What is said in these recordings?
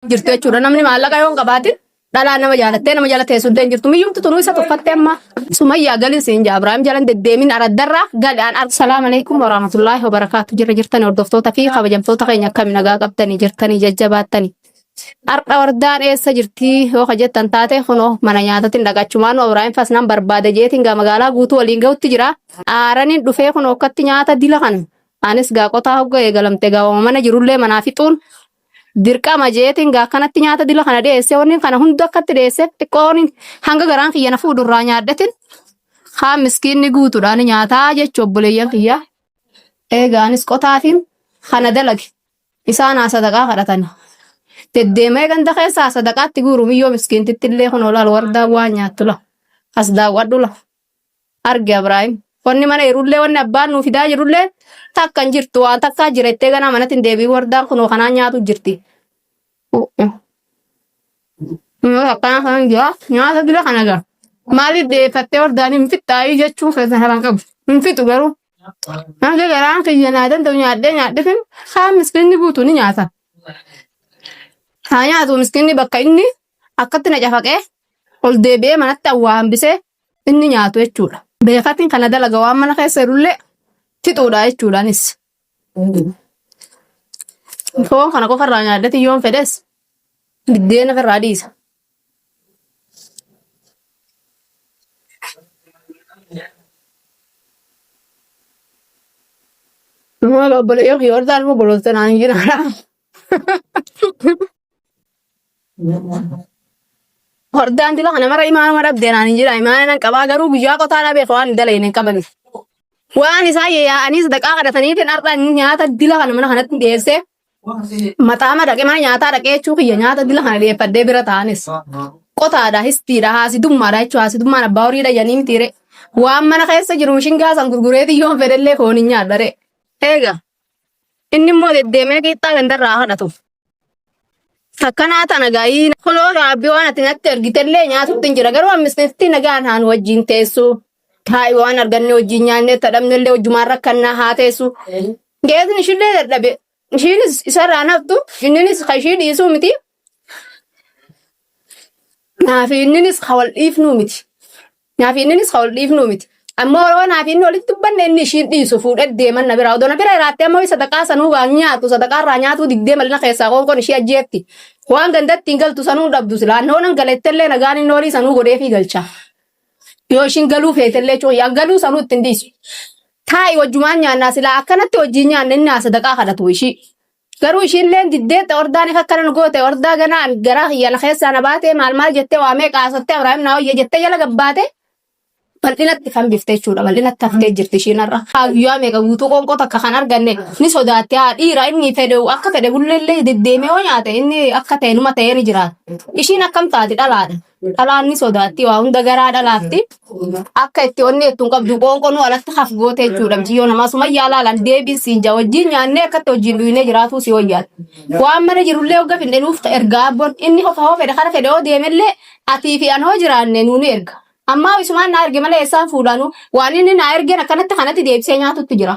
jirtu jechuudha. Namni maallaqa yoo hin qabaatin dhalaa nama jaalattee nama jala teessu illee hin jirtu. Miyyumti tunuu isa tuffatte amma sumayyaa galin siin jaa Abiraam jalan deddeemin araddarraa gali aan argu. Salaamu alaikum warahmatullaahi wabarakaatu jirra jirtani hordoftoota fi kabajamtoota keenya akkami nagaa qabdanii jirtanii jajjabaattanii. Har'a wardaan eessa jirti yoo ka jettan taate kunoo mana nyaatatiin dhaqachumaan Abiraam fas nan barbaada jeetiin gaa magaalaa guutuu waliin gahutti jira. Aaraniin dhufee kunoo akkatti nyaata dila kana. Anis gaa qotaa hogga eegalamte gaa mana jirullee manaa fixuun Dirqama jeetiin gaa akkanatti nyaata dila kana dhiyeessee wanni kana hunda akkatti dhiyeessee xiqqoon hanga garaan kiyya na fuudhu irraa nyaadhetin haa miskiinni guutuudhaan nyaataa jechu obboleeyyan kiyya. Eegaanis qotaatiin kana dalage isaan haa sadaqaa kadhatani. Deddeemee ganda keessaa sadaqaatti guuru miyyoo miskiintitti illee kun olaal wardaa waan nyaattu la as daawwadhu la arge Abraahim. Wanni mana jirullee wanni abbaan nuu fidaa jirullee takka hin jirtu waan takkaa jira jettee ganaa manatti hin deebiin wardaan kunoo kanaan nyaatu jirti. Yoo akkanaa kanan jira nyaata dura kana jira. Maaliif deeffattee wardaan hin fixxaayii jechuun keessan haran qabu. Hin fixu garuu. Hanga garaan kiyya naa danda'u nyaadhee nyaadhifin kaan miskiinni guutu ni nyaata. Haa nyaatu miskiinni bakka inni akkatti na cafaqee ol deebi'ee manatti awwaa hambisee inni nyaatu jechuudha. Beekatiin kana dalaga waan mana keessa jirullee fixuudha jechuudha anis. Foon kana qofa irraa nyaadhati yoon fedhes biddeena ofirraa dhiisa. Maal obboleeyyan kiyya warri taa'an immoo bolooltee naan hin jiraadha. Hordaan dila kana mara imaanuma dhabdee naan hin jira. Imaana nan qabaa garuu guyyaa qotaa dhabee waan hin dalayne hin qaban. Waan isaa yaa'anii sadaqaa kadhataniitiin har'a inni nyaata dila kana mana kanatti dhiyeessee maxaama dhaqee mana nyaataa dhaqee jechuu kiyya nyaata dila kana dhiyeeffadhee bira taa'anis. Qotaadha, histiidha, haasidummaadha jechuudha. Haasidummaan abbaa horii dhayyanii mitiire. Waan mana keessa jiru mishingaa san gurgureetiin yoon fedhellee foon hin nyaadhare. Eega Inni immoo deddeemee qixxaa gandarraa kadhatu. Takkanaa tana gaayii kuloo raabbii waan ati natti ergitellee nyaatutti hin jira garuu ammisnitti nagaan haan wajjin teessu. Taa'i waan arganne wajjin nyaannee tadhabnellee wajjumaan rakkannaa haa teessu. Geesni ishillee dadhabe. Ishiinis isarraa naftu inninis ka ishii dhiisuu miti. Naafi inninis ka wal dhiifnuu miti. Naafi inninis ka ol dhiifnuu miti. Ammoo yoo naafi inni olitti dubbanne inni ishiin dhiisu fuudhee deeman na biraa. Odoo na bira iraattee ammoo sadaqaa sanuu waan nyaatu sadaqaa irraa nyaatuu diddee malina keessaa qoonqoon ishii ajjeetti. Waan gandatti hin galtu sanuu hin dhabdu silaa. Annoo nan galettellee nagaan inni olii sanuu godheefii galcha. Yoo ishiin galuu feetellee cuun yaa galuu sanuu ittiin dhiisu. Taa'i wajjumaan nyaannaa silaa akkanatti wajjiin nyaanne inni haa sadaqaa kadhatu ishii. Garuu ishiilleen diddee xordaan if akkana nu goote ordaa ganaa an garaa kiyya na keessaa na baate maal maal jettee waamee qaasottee Abrahaam naa wayya jettee jala gabbaate bal'inatti kan bifte jechuudha bal'inatti haftee jirti ishiin har'a. Haa guyyaa meeqa guutuu qoonqoo takka kan arganne ni sodaatte haa dhiira inni fedhe akka fedhe bulleellee deddeemee yoo nyaate inni akka ta'e numa ta'ee ni jiraata. Ishiin akkam taati dhalaadha. Dhalaan ni sodaatti waa hunda garaa dhalaatti akka itti onni jettu hin qabdu qoonqonuu alatti haf goote jechuudha miciyyoo namaa suma yaalaalaan deebiin siin jaa wajjin nyaannee akkatti wajjin dhuyinee jiraatuu si wayyaadha. Waan mana jirullee hogga finne nuuf ta erga abboon inni hofa hoo fedhe kara fedhe hoo deemellee atii fi an hoo jiraanne nuuni erga. Ammaa isumaan naa erge malee eessaan fuudhaanu waan inni naa ergeen akkanatti kanatti deebisee nyaatutti jira.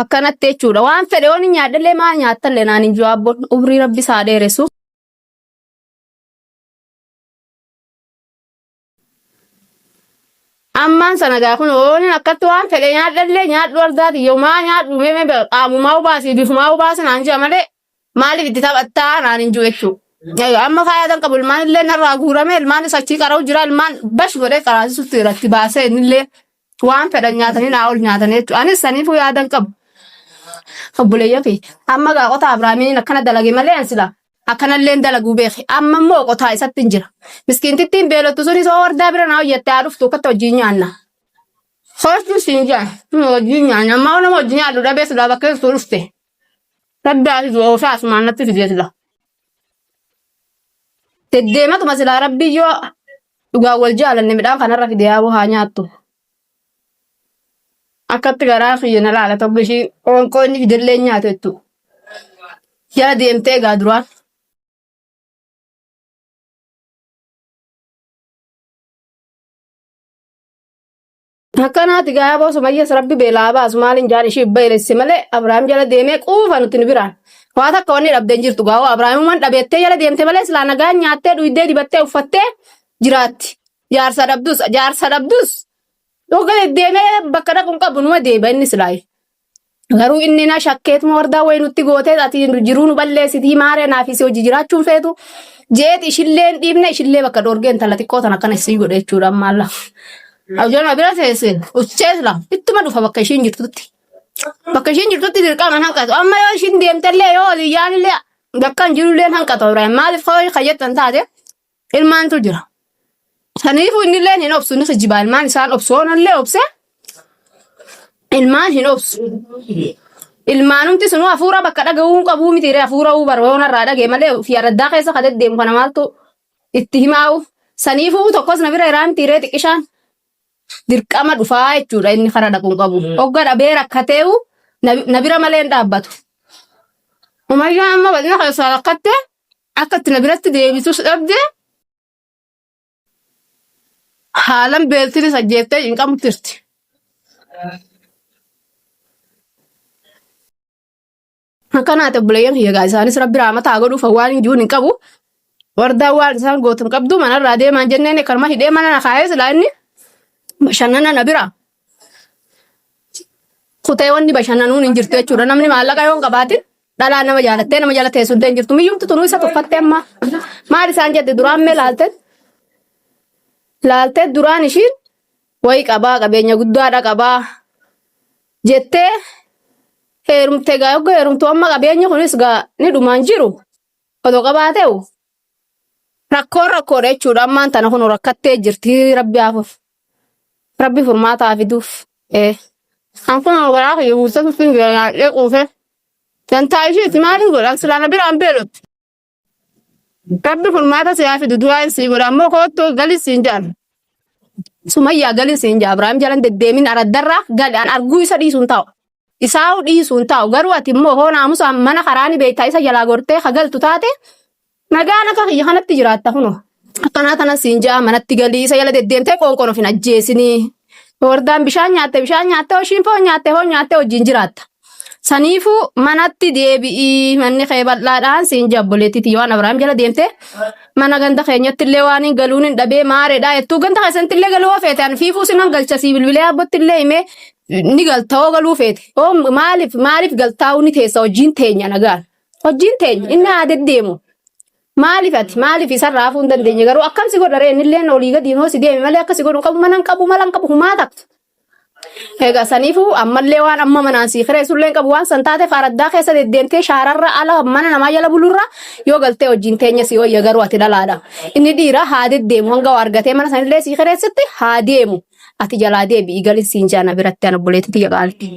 Akkanatti jechuudha. Waan fedhe yoon hin nyaadhallee maal nyaattallee naan hin jawaabboon umrii rabbi isaa dheeressu. Ammaan sana gaa kun oolin akkatti waan fedhe nyaadhallee nyaadhu ardaati yoo maa nyaadhu mee mee qaamumaa hubaasii bifumaa hubaasi naan jaa malee Maaliif itti taphattaa naan hin jiru jechuudha. Egaa amma faayaadan qabu ilmaan illee narraa guurame ilmaan isa achii qara'u jira ilmaan bash godhee qaraasisutti irratti baasee innillee waan fedhan nyaatanii naa ol nyaatanii jechuudha. Anis saniifuu yaadan qabu. Obboleeyyan kiyya. Amma egaa qotaa Abiraamiin akkana dalage malee an silaa akkanallee hin dalaguu beeke. Amma immoo qotaa isatti hin jira. Miskiintittiin beelottu sunis hoo wardaa bira naa hojjatte haa dhuftu akkatti wajjin nyaanna. Soortuun siin jaan. Wajjin nyaanna. Amma nama wajjin nyaadhu dhabee silaa bakkeessu dhufte. Sadda ati du'a ofii asumaan natti fidee sila. Deddeematuma silaa rabbii yoo dhugaa wal jaalanne midhaan kanarra fidee yaaboo haa nyaattu. Akkatti garaa kiyya na laala tokko ishii qoonqoo inni fidellee hin nyaatu jettu. Yaa deemtee egaa duraan. Akkanaati gaa aboo sumayyas rabbi beelaa baasu maaliin jaan ishii baylesse malee Abrahaam jala deemee quufa nuti ni biraan. Waa takka wanni dhabdee hin jirtu gaa'oo Abrahaamumaan dhabeettee jala deemte malee silaa nagaan nyaattee dhuydee dibattee uffattee jiraatti. Jaarsa dhabdus jaarsa dhabdus dhuga deddeemee bakka dhaqu hin qabu numa deeba inni silaayi. Garuu inni na shakkeetuma wardaa wayi nutti gootee ati jiruu nu balleessitii maaree naafis hojii jiraachuun feetu jeeti ishillee hin dhiifne ishillee bakka dhoorgee intala xiqqoo tan akkana isii godhe jechuudha amma alla. Abjoon abira teesse ussee sila ittuma dhufa bakka ishiin jirtutti. Bakka ishiin jirtutti dirqama hin hanqatu amma yoo ishiin deemtellee yoo oliyyaanillee bakka hin jirullee hin hanqatu Ibrahim maaliif koo kayyattan taate Ilmaantu jira. Saniifuu inni illee hin obsu ni kijibaa ilmaan isaan obsu hoon illee obse ilmaan hin obsu. Ilmaanumti sunuu hafuura bakka dhaga'uu hin qabuu miti ree hafuura uu bara hoon irraa dhaga'e malee fi araddaa keessa ka deddeemu kana maaltu itti himaa'u. Saniifuu tokkos na bira iraa miti ree xiqqishaan dirqama dhufaa jechuudha inni kara dhaquu hin qabu. Hogga dhabee rakkateewu na na bira malee hin dhaabbatu. Umayyaa amma bal'ina keessaa rakkattee Akka itti na biratti deebitus dhabde haalan beeltinis ajjeeftee hin qabu jirti. Akkanaa ta'e buleeyyan kiyya gaa isaanis rabbi raamata haa godhuuf waan hin jiruun hin qabu. Wardaa waan isaan gootu hin qabdu manarraa deemaan jenneen karma hidhee mana na kaa'ee silaa inni bashannana na bira. kutee wanni bashannanuun hin jirtu jechuudha. Namni maallaqa yoo hin qabaatin dhalaa nama jaalattee nama jala teessu illee hin jirtu. Miyyumti tunuu isa tuffattee amma maal isaan jette duraan mee laaltee laaltee duraan ishiin wayi qabaa qabeenya guddaadha qabaa jettee heerumte gaa yogga heerumtu amma qabeenyi kunis gaa ni dhumaan jiru otoo qabaateewu rakkoon rakkoodha jechuudha ammaan tana kun rakkattee jirti rabbi haafuuf Rabbi furmaata haa fiduuf. Ee. Kan kun garaa kiyya guuttatu sun jira nyaadhee quufe. Dantaa ishiiti maaliin godha silaa na biraan beelotti. Rabbi furmaata si haa fidu du'aan sii godha ammoo koottu galii siin jedhan. Sumayyaa galii siin jedha Abiraam jalan deddeemin araddarraa gali an arguu isa dhiisuun taa'u. Isaa'u dhiisuun taa'u garuu ati immoo hoo naamusaan mana karaa ni beektaa isa jalaa gortee ka galtu taate Nagaan akka kiyya kanatti jiraatta kunoo. Akkanaa kanan siin ja'a manatti galii isa jala deddeemtee qoonqoon of hin ajjeesinii. Wardaan bishaan nyaatte bishaan nyaatte hoshiin foon nyaatte foon nyaatte wajjin jiraatta. Saniifuu manatti deebi'ii manni kee bal'aadhaan siin ja'a obboleettii tiyya waan Abrahaam jala deemtee mana ganda keenyatti illee waan hin galuun hin dhabee maareedhaa jettuu ganda keessanitti illee galuu hoo feete ani fiifuu sinan galcha sii bilbilee abbootti illee himee ni galta hoo galuu feete hoo maaliif maaliif galtaa'uu ni teessa wajjin teenya nagaan. Hojiin teenya inni haa deddeemu. Maaliif ati maaliif isarraa hafuu hin dandeenye garuu akkam si godha ree innilleen olii gadiin hoo si deeme malee akka si godhu hin qabu mana hin qabu mala hin qabu humaa takka. Egaa saniifuu ammallee waan amma manaan sii kireessullee hin qabu waan san taateef araddaa keessa deddeemtee shaararra ala mana namaa jala bulurra yoo galtee hojiin teenya si wayya garuu ati dhalaadha. Inni dhiira haa deddeemu hanga waa argatee mana sanillee sii kireessitti haa deemu. Ati jalaa deebi'i galin siin jaana biratti ana obboleetti tiyya qaalti.